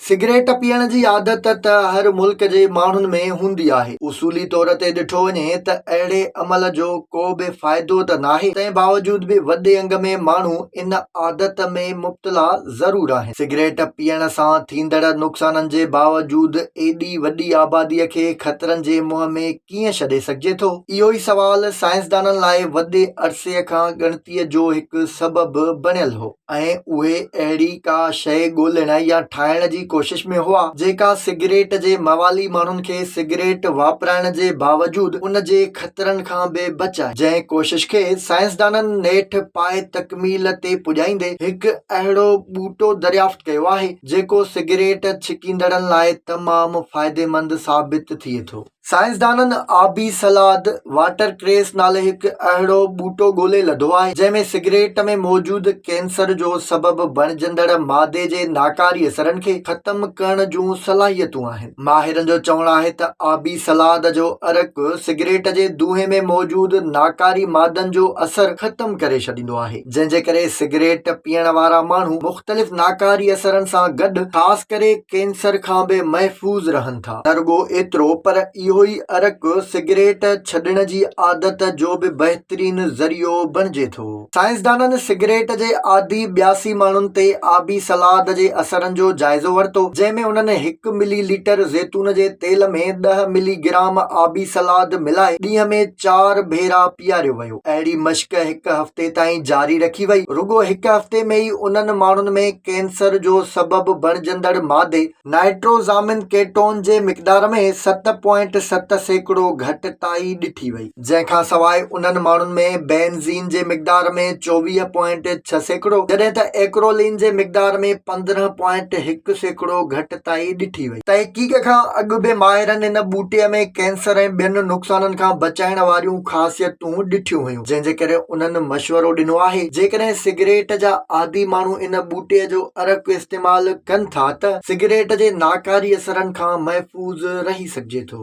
Cigarette پيئڻ جي عادت ته هر ملڪ جي ماڻهن ۾ هوندي آهي. اصولي طور تي ڏٺو وڃي ته اهڙي عمل جو ڪو به فائدو ته ناهي، تنهن باوجود به وڏي انگ ۾ ماڻهو ان عادت ۾ مبتلا ضرور آهن. سگريٽ پيئڻ سان ٿيندڙ نقصانن جي باوجود ايڏي وڏي آباديء کي خطرن جي منهن ۾ ڪيئن ڇڏي سگهجي ٿو؟ اهو ئي سوال سائنسدانن لاء وڏي عرصي کان ڳڻتيء جو هڪ سبب بڻيل هو. ۽ اهي اهڙي ڪا شيء ڳولڻ يا ٺاهڻ جي ڪوشش ۾ هئا، جيڪا سگريٽ جي موالي ماڻهن کي سگريٽ واپرائڻ جي باوجود ان جي خطرن کان به بچائي. جنهن ڪوشش کي سائنسدانن نيٺ پائي تڪميل تي پڄائيندي هڪ اهڙو ٻوٽو دريافت ڪيو آهي، جيڪو سگريٽ ڇڪيندڙن لاء تمام فائديمند ثابت ٿئي ٿو. سائنسدانن آبي سلاد، واٽر ڪريس، نالي هڪ اهڙو ٻوٽو ڳولي لڌو آهي، جنهن ۾ سگريٽ ۾ موجود ڪينسر جو سبب بڻجندڙ مادي جي ناڪاري اثرن کي ختم ڪرڻ جون صلاحيتون آهن. ماهرن جو چوڻ آهي ته آبي سلاد جو عرق سگريٽ جي دونهي ۾ موجود ناڪاري مادن جو اثر ختم ڪري ڇڏيندو آهي، جنهن جي ڪري سگريٽ پيئڻ وارا ماڻهو مختلف ناڪاري اثرن سان گڏ خاص ڪري ڪينسر کان به محفوظ رهن ٿا. ٿا. نه رڳو ايترو پر اهو ئي عرق سگريٽ ڇڏڻ جي عادت جو به بهترين ذريعو بڻجي ٿو. سائنسدانن سگريٽ جي عادي ٻياسي ماڻهن تي آبي سلاد جي اثرن جو جائزو ورتو، جنهن ۾ انهن هڪ ملي ليٽر زيتون جي تيل ۾ ڏهه ملي گرام آبي سلاد ملائي ڏينهن ۾ چار ڀيرا پياريو ويو. اهڙي مشق هڪ هفتي تائين جاري رکي وئي. رڳو هڪ هفتي ۾ ئي انهن ماڻهن ۾ ڪينسر جو سبب بڻجندڙ مادي نائٽروزامين ڪيٽون جي مقدار ۾ ست پوائنٽ ست سيڪڙو گهٽتائي ڏٺي وئي جنهن کان سواء انهن ماڻهن ۾ بينزين جي مقدار ۾ چوويهه پوائنٽ ڇهه سيڪڙو جڏهن ته ايڪرولين جي مقدار ۾ پندرهن پوائنٽ هڪ سيڪڙو گهٽتائي ڏٺي وئي. تحقيق کان اڳ به ماهرن هن ٻوٽي ۾ ڪينسر ۽ ٻين نقصانن کان بچائڻ واريون خاصيتون ڏٺيون هيون. جنهن جي ڪري انهن مشورو ڏنو آهي جيڪڏهن سگريٽ جا عادي ماڻهو ان ٻوٽي جو عرق استعمال ڪن ٿا ته سگريٽ جي ناڪاري اثرن کان محفوظ رهي سگهجي ٿو.